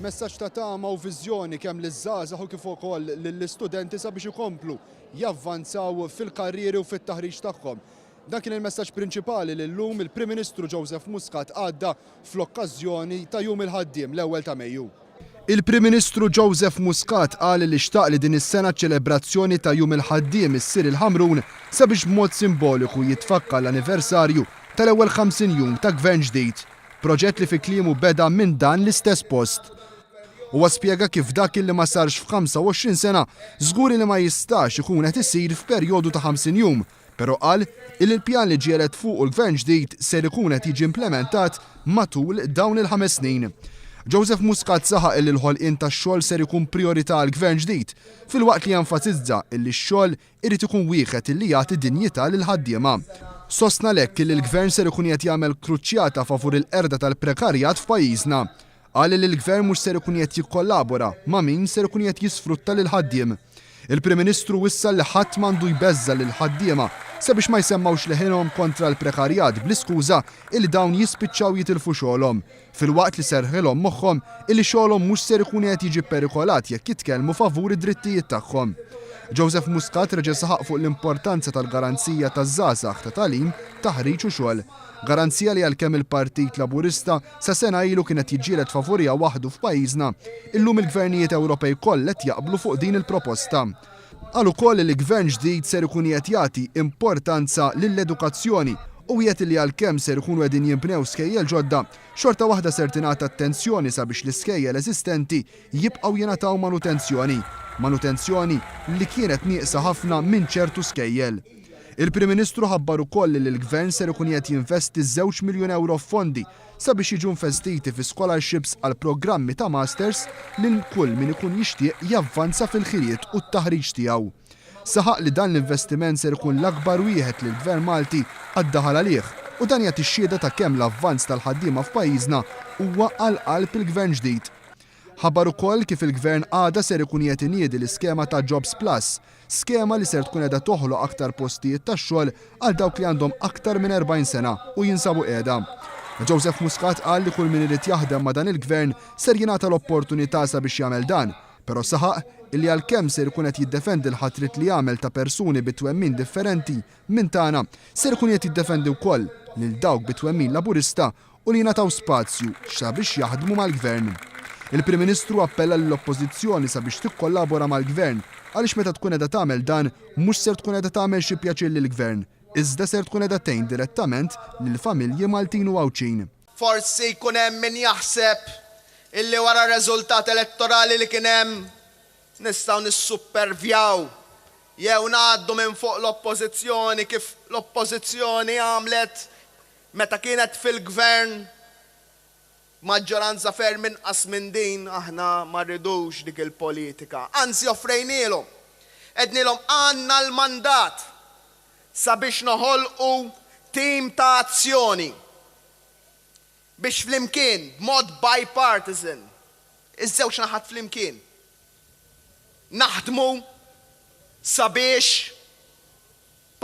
Messaġġ ta' tama u viżjoni kemm liż-żgħażagħ u kif ukoll lill-istudenti sabiex ikomplu javvanzaw fil-karrieri u fit-taħriġ tagħhom. Dan kien il-messaġġ prinċipali li llum il-Prim Ministru Joseph Muscat għadda fl-okkażjoni ta' Jum il-Ħaddiem, l-ewwel ta' Mejju. Il-Prim Ministru Joseph Muscat qal li xtaq li din is-sena ċ-ċelebrazzjoni ta' Jum il-Ħaddiem issir il-Ħamrun sabiex b'mod simboliku jitfakka l-anniversarju tal-ewwel 50 jum ta' Gvern ġdid, proġett li fi kliemu beda minn dan l-istess post. Huwa spjega kif dak li ma sarx f'ħamsa u għoxrin sena żguri li ma jistax ikun qed isir f'perjodu ta' 50 jum. Però qal illi l-pjan li ġiegħlet fuqu l-Gvern ġdid ser ikun qed jiġi implementat matul dawn il-ħames snin. Joseph Muscat saħaq illi l-ħolqien tax-xogħol ser ikun prijorità għall-Gvern ġdid, filwaqt li enfasizza illi x-xogħol irid ikun wieħed illi jagħti dinjità lill-ħaddiema. Sostna għalhekk illi l-Gvern ser ikun qiegħed jagħmel kruċjata favur il-qerda tal-prekarjat f'pajjiżna. Qal li l-Gvern mhux ser ikun qiegħed jikkollabora ma' min ser ikun qiegħed jisfrutta lill-ħaddiem. Il-Prim Ministru wissa li ħadd m'għandu jbeżża' lill-ħaddiema sabiex ma jsemmgħux leħinhom kontra l-prekarjat bl-iskuża illi dawn jispiċċaw jitilfu xogħolhom, filwaqt li serrħilhom moħħhom illi xogħolhom mhux ser ikun qiegħed jiġi pperikolat jekk jitkellmu favur id-drittijiet tagħhom. Joseph Muscat reġa' saħaq fuq l-importanza tal-garanzija taż-żgħażagħ ta' tagħlim, taħriġ u xogħol. Garanzija li għalkemm il-Partit Laburista Sa sena ilu kien qed jiġġieled favuriha waħdu f'pajjiżna. Illum il-gvernijiet Ewropej koll qed jaqblu fuq din il-proposta. Qal ukoll li gvern ġdid ser ikun qiegħed jagħti importanza lill-edukazzjoni u wiegħed li għalkemm ser ikunu qegħdin jinbnew skejjel ġodda, xorta waħda ser tingħata attenzjoni sabiex l-iskejjel eżistenti jibqgħu jingħataw manutenzjoni, manutenzjoni li kienet nieqsa ħafna minn ċertu skejjel. Il-Prim Ministru ħabbar ukoll li l-Gvern ser ikun qiegħed jinvesti żewġ miljun ewro f'fondi sabiex jiġu investiti fi scholarships għal programmi ta' Masters lil kull min ikun jixtieq javvanza fil-ħiliet u t-taħriġ tiegħu. Saħaq li dan l-investiment ser ikun l-akbar wieħed li l-Gvern Malti qatt daħal għalih u dan jagħti x-xhieda ta' kemm l-avvanz tal-ħaddiema f'pajjiżna huwa għal qalb il-Gvern ġdid. Ħabbar ukoll kif il-Gvern għada ser ikun qiegħed iniedi l-iskema ta' Jobs Plus, skema li ser tkun qiegħda toħloq aktar postijiet tax-xogħol għal dawk li għandhom aktar minn 40 sena u jinsabu qiegħda. Joseph Muscat qal li kull min irid jaħdem ma' dan il-Gvern ser jingħata l-opportunità sabiex jagħmel dan, però saħaq illi għalkemm ser ikun qed jiddefendi l-ħatriet li għamel ta' persuni bi twemmin differenti minn tagħna, ser ikun qiegħed jiddefendi wkoll lil dawk bi twemmin Laburista u li jingħataw spazju sabiex jaħdmu mal-Gvern. Il-Prim Ministru appella lill-Oppożizzjoni sabiex tikkollabora mal-Gvern għaliex meta tkun qiegħda tagħmel dan mhux ser tkun qiegħda tagħmel xi pjaċir lill-Gvern iżda ser tkun qiegħda tgħin direttament lill-familji Maltin u Għawdxin. Forsi jkun hemm min jaħseb illi wara r-reżultat elettorali li kien hemm nistgħu nissuppervjaw jew ngħaddu minn fuq l-Oppożizzjoni kif l-Oppożizzjoni għamlet Meta kienet fil-Gvern maġġoranza ferm inqas minn din, aħna ma rridux dik il-politika. Anzi offrejnielhom, għednielhom għandna l-mandat sabiex noħolqu tim ta' azzjoni biex flimkien, b'mod bipartisan, iż-żewġ naħat flimkien, naħdmu sabiex,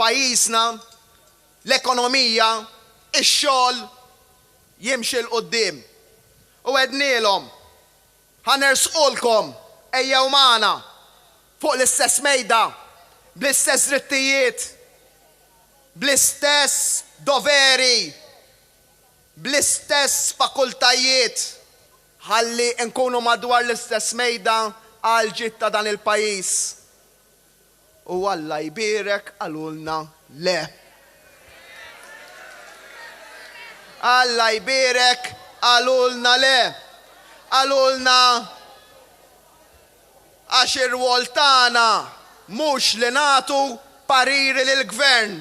pajjiżna, l-ekonomija, ix-xogħol jimxi 'l quddiem. U għednielhom, Ħa nersqulkom, ejjew magħna fuq l-istess mejda, bl-istess drittijiet, bl-istess doveri, bl-istess fakultajiet, ħalli nkunu madwar l-istess mejda għall-ġid ta' dan il-pajjiż. U Alla jbierek qalulna le. Alla jbierek qalulna le. Qalulna għax ir-rwol tagħna mhux li nagħtu pariri lill-Gvern.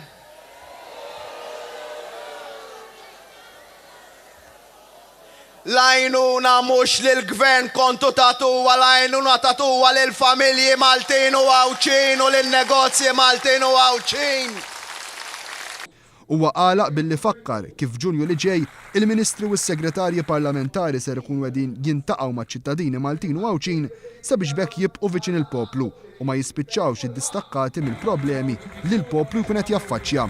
L-għajnuna mhux lill-Gvern kontu tagħtuha, l-għajnuna tagħtuha lill-familji Maltin u Għawdxin u lin-negozji Maltin u Għawdxin. Huwa għalaq billi fakkar kif f'Ġunju li ġej, il-Ministri u s-Segretarji Parlamentari ser ikunu qegħdin jintaqgħu maċ-ċittadini Maltin u Għawdxin sabiex b'hekk jibqgħu viċin il-poplu u ma jispiċċawx iddistakkati mill-problemi li l-poplu jkun qed jaffaċċja.